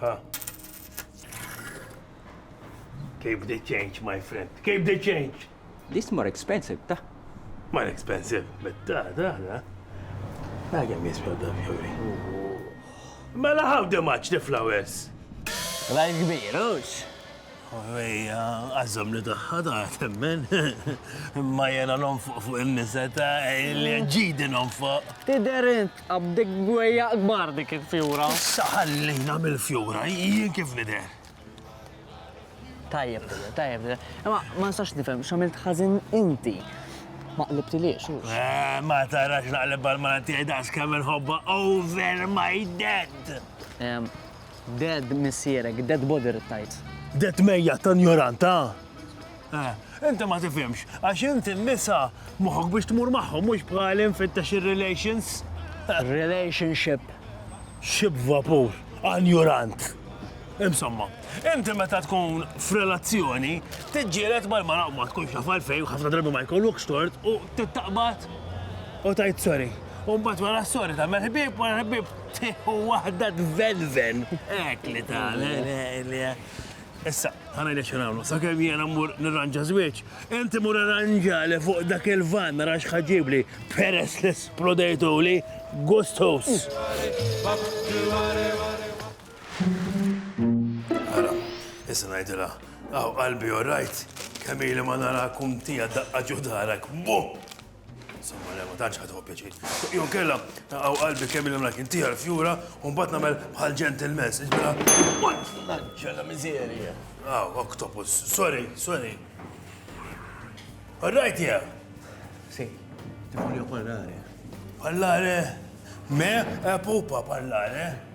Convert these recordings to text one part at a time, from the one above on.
Ha. Keep the change, my friend. Keep the change. This more expensive, ta? More expensive, but ta, ta, ta. I can miss me the fury. Mela how the much the flowers? Rajn kbir, ux? Ejja, għazzom li taħħa ta' temmen. Ma jena non fuq fuq il-niseta, li ġidi non fuq. Tider int, Għandek bwejjaq kbar dik il-fjura. Issa ħallina mill-fjura, jien kif nidher? Tajjeb, tajjeb. Imma ma nistax nifhem x'għamilt ħażin inti. Ma qlibtiliex u. Eh, ma tarax naqleb għal-mara tiegħi daqs kemm inħobba over my dead. Dead missierek, dead body rittajt. Dead mejja ta' njoranta. Eh, inti ma tifhimx, għax inti n-nisa moħħok biex tmur magħhom mhux bħali nfittex ir-relations. Relationship. Xib vapur, anjurant. Insomma, inti meta tkun f'relazzjoni, tiġġielet mal-mara u ma tkunx taf għalfejn ħafna drabi ma jkollokx tort u tittaqbad u tajt sorry. U mbagħad wara sorry ta' ħbieb wara ħbieb tieħu waħda tvelven. Ek li ta' Issa, ħa ngħidlek xi nagħmlu, sakemm jiena mmur nirranġa żwieġ, inti mur irranġa li fuq dak il-van nara x'ħaġibli peress li splodejtuli gustus. Ara, issa ngħidilha, aw qalbi orajt, kemm ili ma nara kum tija daqqa ġudarek, buh! Insomma, le, ma tantx ħadħu pjaċir. Jew kella taqgħu qalbi kemm il mlak inti għal-fjura u mbagħad nagħmel bħal ġentilmens. Iġbela, mort fl-anġela miżerja. Ah, octopus. Sorry, sorry. Rajt jew? Si, ti voglio parlare. Parlare? Me? Eh, pupa parlare?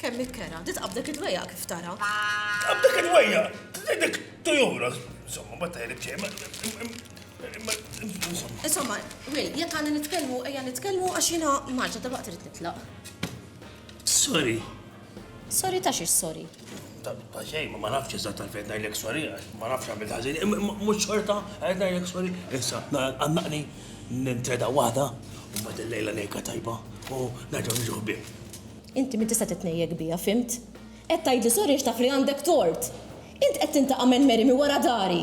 Kemm ikkera, titqabdek id-dwejjaq kif tara. Tqabdek id-dwejjaq, tridek tujura. Insomma, ma tajlek xejn. Insomma, Will, jekk għandna nitkellmu, ejja nitkellmu għax jiena marġa dalwaqt irid nitlaq. Sorry. Sorry ta' xiex sorry? Ta' xejn, ma nafx iżda ta' fejn ngħidlek sorry, ma nafx għamil ħażin, mhux xorta qed ngħidlek sorry. Issa, għandaqni nintreda waħda u mbagħad illejla ngħidka tajba u nerġgħu niġu ħbieb. Inti min tista' titnejjek bija, fhimt? Qed tgħidli sorry għax taf li għandek tort. Int qed tintaqa' minn Mary minn wara dari!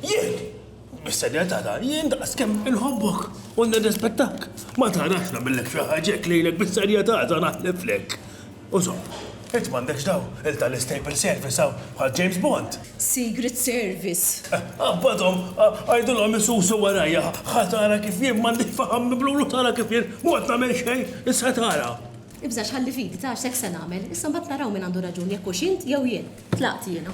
Jien? Bis-serjetà dan, jien daqskemm inħobbok u nirrispettak, ma tarax nagħmillek xi ħaġa hekk lejlek bis-serjetà sa naħliflek. U żomm, int m'għandekx dawn il-tal-istable service hawn bħal James Bond? Secret Service. Qabbadhom, għidilhom isusu warajja, ħa tara kif jien m'għandix faħam miblulu tara kif jien m'għodt nagħmel xejn, issa tara. Ibżax ħalli fidi ta' għax hekk se nagħmel, issa mbagħad naraw min għandu raġun jekk hux int jew jien. Tlaqt jiena.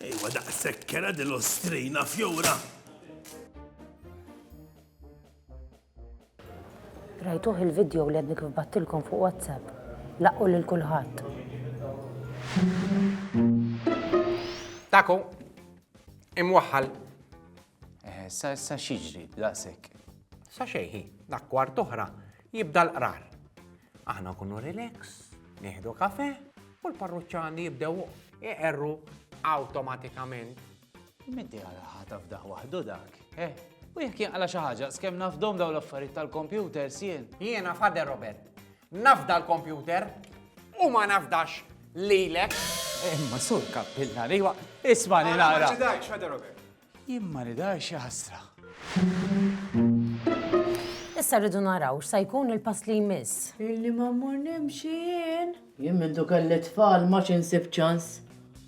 Ejwa daqshekk kera din l-Ostrina fjura. Rajtuh il-video li għadni kif battilkom fuq WhatsApp. Laqqu lil kulħadd. Taku, imwaħħal. Eh, sa xieġri, daqsek. Sa xejħi, dak kwart oħra, Jibda l-qrar. Aħna nkunu relax, nieħdu kafe u l-parruċċani jibdew iqerru awtomatikament. Minti għala ħata f'daħ waħdu dak, eh? U jekk jinqala xi ħaġa, skemm nafdom daw l-affarijiet tal-kompjuter sien. Jiena fader Robert, nafda l-kompjuter u ma nafdax lilek. Imma sur kappillari, isma' li nara. Ma ċidajx, fader Robert. Jien ma nidharx xi ħasra. Issa rridu naraw x'sa jkun il-pass li jmiss. Illi ma mmur nimxi jien. Jien mindu kelli t-tfal m'għadx insib ċans.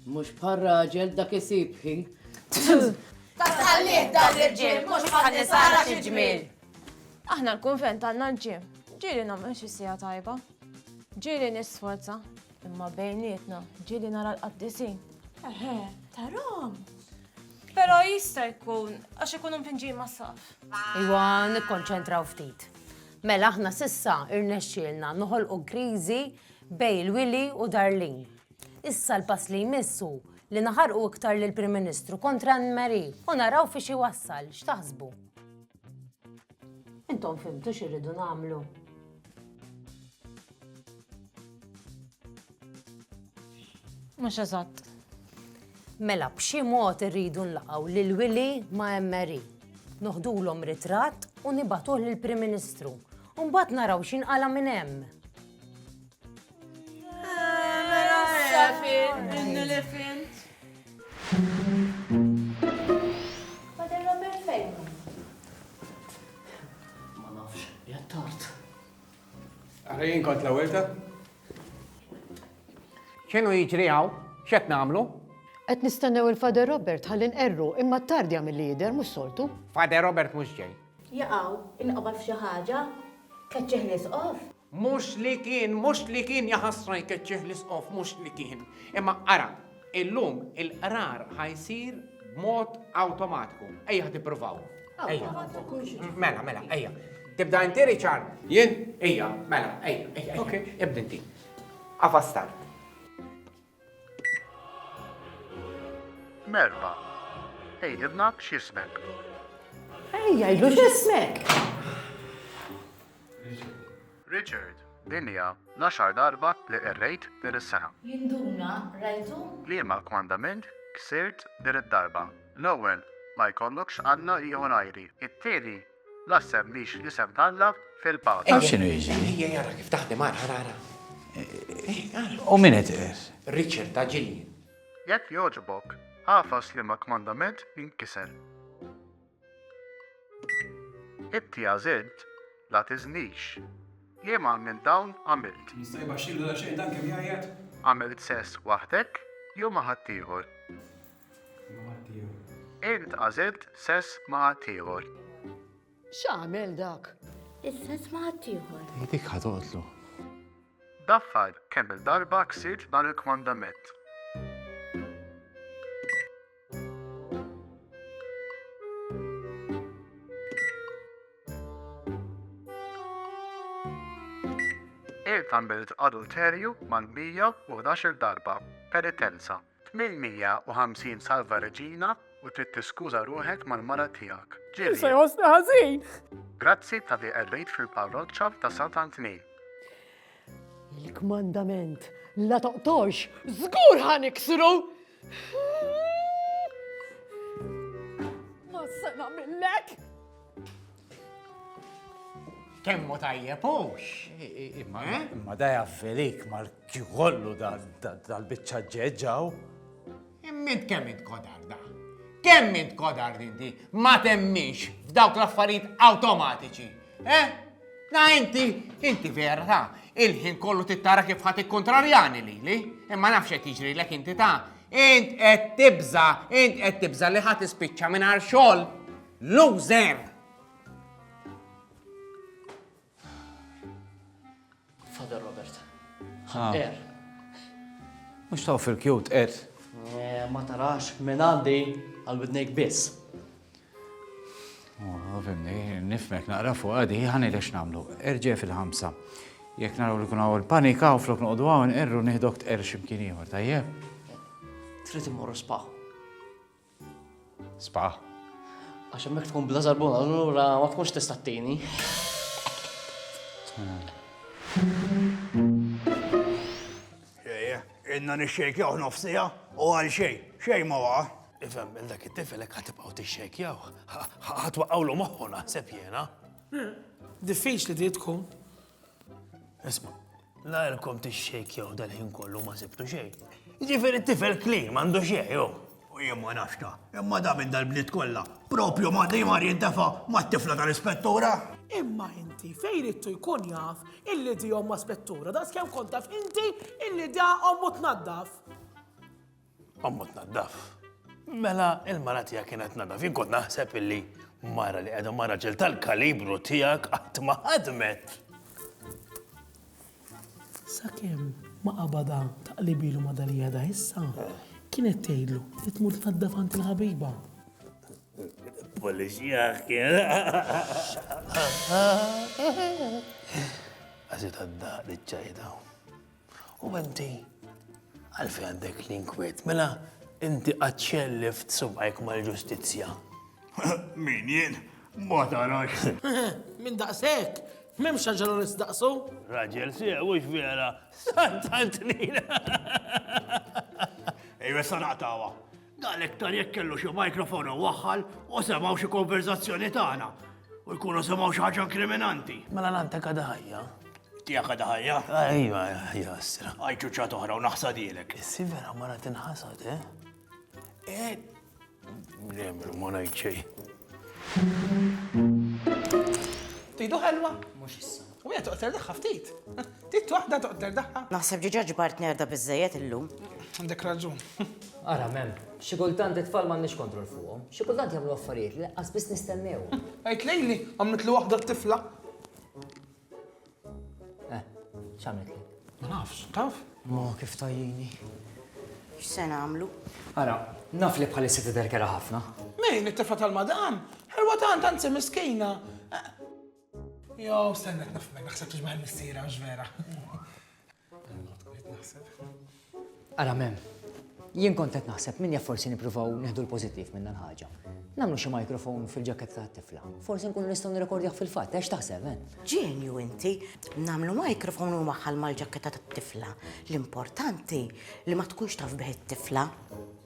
Mhux bħal raġel dak isib ħin. Tassalliet dan l-irġiel mhux bħal nisa ara xi ġmiel. Aħna l-kunvent għandna l-gym. Ġieli nagħmel xi siegħa tajba. Ġieli nisforza. Imma bejnietna, ġieli nara l-qaddisin. Eħe, tarahom. Però jista' jkun għax ikunu mpinġin mas-saqaf. Iwa, nikkonċentraw ftit. Mela aħna sissa irnexxielna noħolqu kriżi bej il-Wili u Darlin. Issa l-pass li jmissu li naħarqu iktar lill prim Ministru kontra Anne Marie u naraw fi xi wassal, x'taħsbu? Intom fimtu x'irridu nagħmlu? Mhux eżatt. Mela, b'xi mod irridu nlaqgħu lil Willy ma' Emery. Noħdulhom ritratt u nibatuh lill prim Ministru. U mbagħad naraw x'in qala minn hemm. Ara jien kont l-ewwel ta'. X'inhu jiġri hawn? X'qed nagħmlu? Qed nistennew il-Father Robert ħalli nqerru, imma t-tardja milli jidher mhux soltu. Father Robert mhux ġej. Jaqaw, inqabad f'xi ħaġa? Keċċih l-Isqof? Mhux li kien, mhux li kien, jaħasra jkeċċih l-Isqof, mhux li kien. Imma ara, Illum il-qrar ħa jsir b'mod awtomatiku. Ejja ħa tippruvaw. Ejja. Mela, mela, ejja. Tibda inti Richard? Jien? Ejja, mela, ejja, ejja. Ok. Ibda inti. Afa start. Merba. Ejdibna b'xismek. Ejja, jgħidlu x'ismek. Richard, Din hija l-għaxar darba li qirrejt din is-sena. Jinduna, Rajtu? Liema kmandament ksirt din id-darba? L-ewwel, ma jkollokx alla ieħor għajri. It-tieni, la ssemmix l-isem t'Alla fil-paga. Taf x'inhu jiġri? Ejja ara kif taħdem, ara, ara, ara. U min qed iqis? Richard, ta' ġilji. Jekk jogħġbok, agħfas liema kmandament inkisser. Inti għażilt, la tiżnix. Jiem għal minn dawn għamilt? Jista' jbaxxilu daqsxejn dan kemm jgħajjat? Għamilt sess waħdek jew ma' ħaddieħor? Ma' ħaddieħor. Int għażilt sess ma' ħaddieħor? X'għamel dak? Is-sess ma' ħaddieħor. Hi dik ħa toqtlu. Daffar kemm-il darba ksirt dan il-kmandament? Il-tamilt adulterju mal-111 darba, penitenza, 850 salva reġina u trid tiskuża ruħek mal-mara tiegħek. Ġieli. Se jħossni ħażin. Grazzi ta' li qerrejt fil-parroċċa ta' Sant'Antni. Il-kmandament la toqtolx, żgur ħaniksru! Ma se nagħmillek! Kemmu tajjeb hux. Imma eh? imma da jaffilik mal kollu dal-biċċa ġeġġaw. Immin kemm int kodar da? Kemm int kodar inti ma temmix f'dawk l-affarijiet awtomatiċi? Eh? Na inti, inti vera ta' il-ħin kollu tittara kif ħat ikkontrarjani li li, imma nafx qed jiġri lek inti ta' int qed tibża, int qed tibża li ħat ispiċċa mingħajr xogħol. Loser! Father Robert. Ħaqqer. Mhux taw fil-kjut qed. Eh, ma tarax minn għandi għal widnejk biss. Oh, fimni, nifmek naqra fuq għadi, ħani lex namlu. Erġe fil-ħamsa. Jek naraw li kuna għol panika u flok nuqdu għaw nqerru nihdok tqer ximkien ieħor, tajjeb? Trid immorru spaħ. Sbagħ. Għax hemmhekk tkun bla żarbun, allura ma tkunx tista' ttini. Inna nixxejkjaw nofsija u għal xej, xej ma waqa. Ifem, dak it-tifelek ħatibqaw tixxejkjaw, ħatwaqawlu moħħu naħseb jena. Diffiċ li di tkun, Isma, la jelkom t-xejk jew dal-ħin kollu ma sibtu xej. Ġifiri t-tifel klin mandu xej, jo. U jien ma nafxta, imma da minn dal-bniet kollha, propju ma li mar jintefa ma t-tifla tal-ispettura. Imma inti fej rittu jkun jaf illi di omma spettura, da skem kontaf inti illi da ommu tnaddaf. Ommu tnaddaf. Mela il-mara tiegħek kienet tnaddaf. Jien kont naħseb illi mara li qiegħda mara ġel tal-kalibru tiegħek qatt ma ħadmet. Sakemm ma qabada taqlibilu ma dali għada issa, kienet tgħidlu li tmur tnaddaf għand il-ħabiba. Polizija kien. Għazit għadda li ċajda. U inti għalfejn għandek l-inkwiet? Mela inti qatt xellift subajk mal-ġustizzja. Min jien? Ma tarax. Min daqshekk? M'hemmx ħaġa li nistaqsu? Raġel sieq mhux vera. Sant Antonina. Ejwe sa naqtawha. Dan iktar jekk kellu xi microphone u waħħal u semgħu xi konverzazzjoni tagħna u jkunu semgħu xi ħaġa inkriminanti. Mela l-anta kada ħajja? Tija kada ħajja? Ejwa, ħajja s-sira. Għajċu ċat oħra u naħsad jilek. Issi vera mara tinħasad, eh? Eh, nemru ma najċej. Tidu ħelwa? Mux issa. U hija toqter daħħa ftit. Tit waħda toqter daħħa. Naħseb ġiġa ġbart nerda biżejjed illum. Għandek raġun. Ara, mem, xi kultant it-tfal m'għandniex kontroll fuqhom. Xi kultant jagħmlu affarijiet li qas biss nistennew. Għid lejli, għamlet li waħda t-tifla. Eh, x'għamlet li? Ma nafx, taf? Ma kif tajjini. X'se nagħmlu? Ara, naf li bħalissa tidher kera ħafna. Min, it-tifla tal-madam? Ħelwa tant anzi miskina. Jo, stenna t-nafmen, naħseb t ġmaħi missira, mux vera. Ara mem, jien kont qed naħseb min jaf forsi nippruvaw neħdu l-pożittiv minn dan ħaġa. Nagħmlu xi mikrofon fil-ġaketta tat-tifla. Forsi nkunu nistgħu nirrekordjah fil-fatt, għax taħseb, eh? Ġenju inti, nagħmlu mikrofon u maħħal mal-ġaketta tat-tifla. L-importanti li ma tkunx taf bih it-tifla.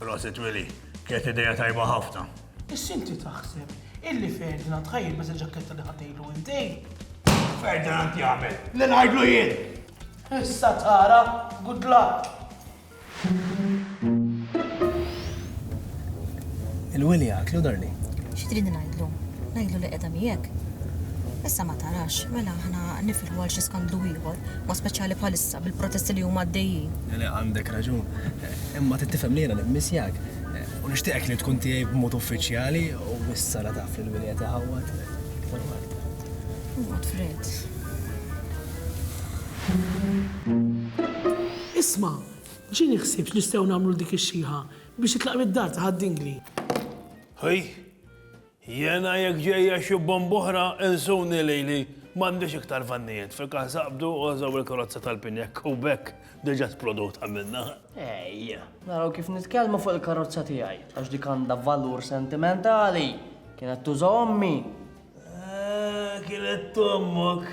Prosit Willy, kienet ideja tajba ħafna. Issa inti taħseb illi Ferdinand ħajjil biża ġakketta li ħatejlu inti? Ferdinand jagħmel li ngħidlu jien. Issa tara, good luck. Il-Willy għatlu darni. Xi trid ngħidlu? Ngħidlu li qiegħda miegħek. Issa ma tarax, mela aħna nifilħu għal xi skandlu ieħor, ma speċjali bħalissa. bil-protesti li huma għaddejjin. Le, le, għandek raġun. Imma trid tifhem li jiena nimmissjak. U nixtieqek li tkun tiegħi b'mod uffiċjali u issa la taf li l-wili qed iħawwad iktar u aktar. Iqgħod fred. Isma', ġieni ħsieb x'nistgħu nagħmlu 'l dik ix-xiħa biex titlaq mid-dar ta' Ħad-Dingli. Hi! Jiena jekk ġejja xi bomba oħra insuni lili, m'għandix iktar vannijiet, fi każ aqbdu għożgħu l-karozza tal-pin jekk hu b'hekk diġà tprodut għamilna. Ejja, naraw kif nitkellmu fuq il-karozza tiegħi, għax dik għandha valur sentimentali, kienet tuża ommi. Ah, kienet t'ommok?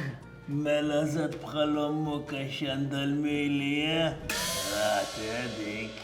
Mela eżatt bħal ommok għax għandha l-mili, eh? Rati dik.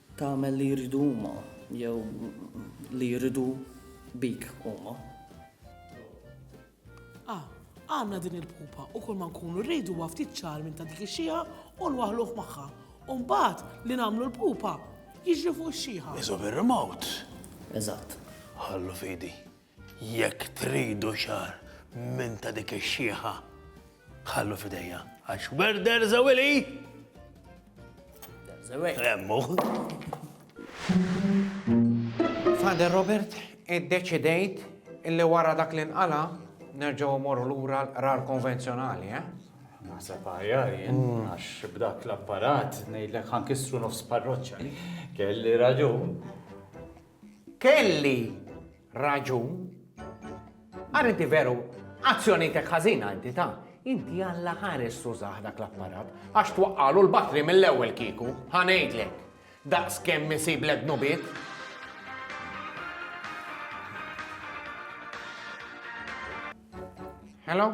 Tagħmel li jridu huma jew li jridu bik huma. A. Għandna din il-pupa u kull ma nkunu rridu huwa ftit ċagħar minn ta' dik ix-xiħa u nwaħħluh magħha u mbagħad li nagħmlu l-pupa jiġri fuq ix-xiħa. Iżgħob ir-remote. Eżatt. Ħallu f'idi. Jekk tridu xahar minn ta' dik ix-xiħa, ħallu f'idejja, għax where there's a willy, there's a way. Remmu. Father Robert, iddeċidejt illi wara dak li nqala nerġgħu mmorru lura l-qrar konvenzjonali, eh? Naħseb għajar jien, mm. għax b'dak l-apparat ngħidlek ħankissru nofs parroċċa. Kelli raġun. Kelli raġun. Ara inti veru, azzjonitek ħażina inti ta' inti alla ħares tużah dak l-apparat, għax twaqqalu l-batri mill-ewwel kieku, ħanejdlek. Daqs kemm isib l dnubiet. Hello?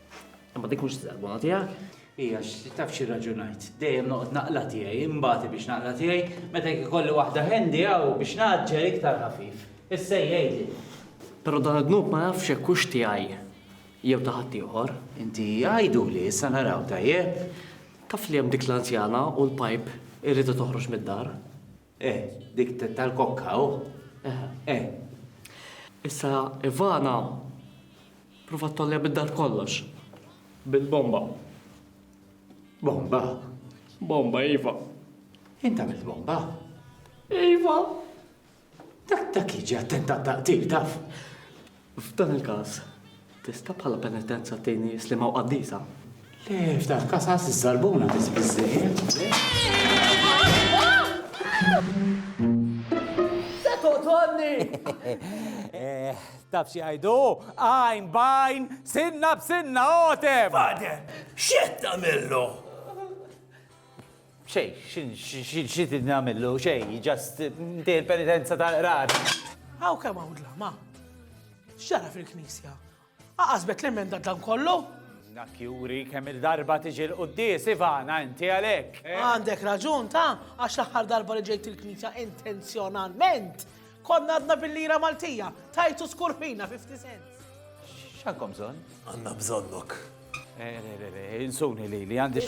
Imma dik mhux taqbuna tiegħek. Ija, taf xi raġunajt. Dejjem noqgħod naqla tiegħi, imbati biex naqla tiegħi, meta jkolli waħda ħendi hawn biex naġġel iktar ħafif. Issa jgħidli. Però dan id-dnub ma nafx hekk hux tiegħi jew ta' ħadd ieħor. Inti għajdu li issa naraw tajjeb. Taf li hemm dik l-anzjana u l-pajp irridu toħroġ mid-dar. Eh, dik tal-kokka, u? Oh. Eh. Issa, Ivana, prova tollja bid-dar kollox. Bil-bomba. Bomba? Bomba, Iva. Inta mill bomba? Iva. Dak dak jiġi attentat taqtil taf. F'dan il-każ, tista' bħala penitenza tgħinni slima u qaddisa? Le, f'dan il-każ għas iż-żarbuna biss biżżejjed, Se toqtolni! Taf xi jgħidu? Għajn b'għajn, sinna b'sinna, għotem! Father, x'qed tagħmillu? Xejn, xi trid nagħmillu, xejn, just ntej il-penitenza tal-qrar. Hawn kemm hawn dlama. X'ġara fil-Knisja? Aqasbet l-emenda dan kollu? Dak juri kemm il-darba tiġi l-quddis, Ivana, inti għalek. Għandek raġun ta' għax l-aħħar darba li ġejt il-knisja intenzjonalment. Konna għadna bil-lira Maltija, tajtu skurfina 50 cent. X'għandkom bżonn? Għandna bżonnok. Eh, eh, eh, insuni li li għandi.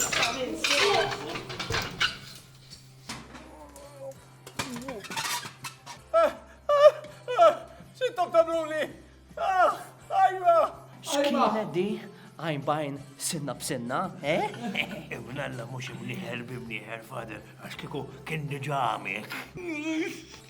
Xintom tamluni? Ah, ajma! X'kienet di? għajn bajn sinna b'sinna, eh? Ibnalla mux imniħer b'imniħer, fader, għax kiku kien diġa għamil.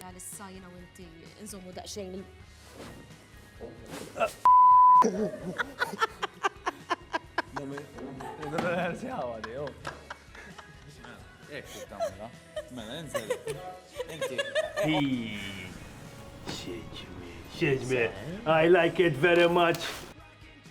Għalissa jina u inti nżommu daqxejn il- Xieġmi, I like it very much.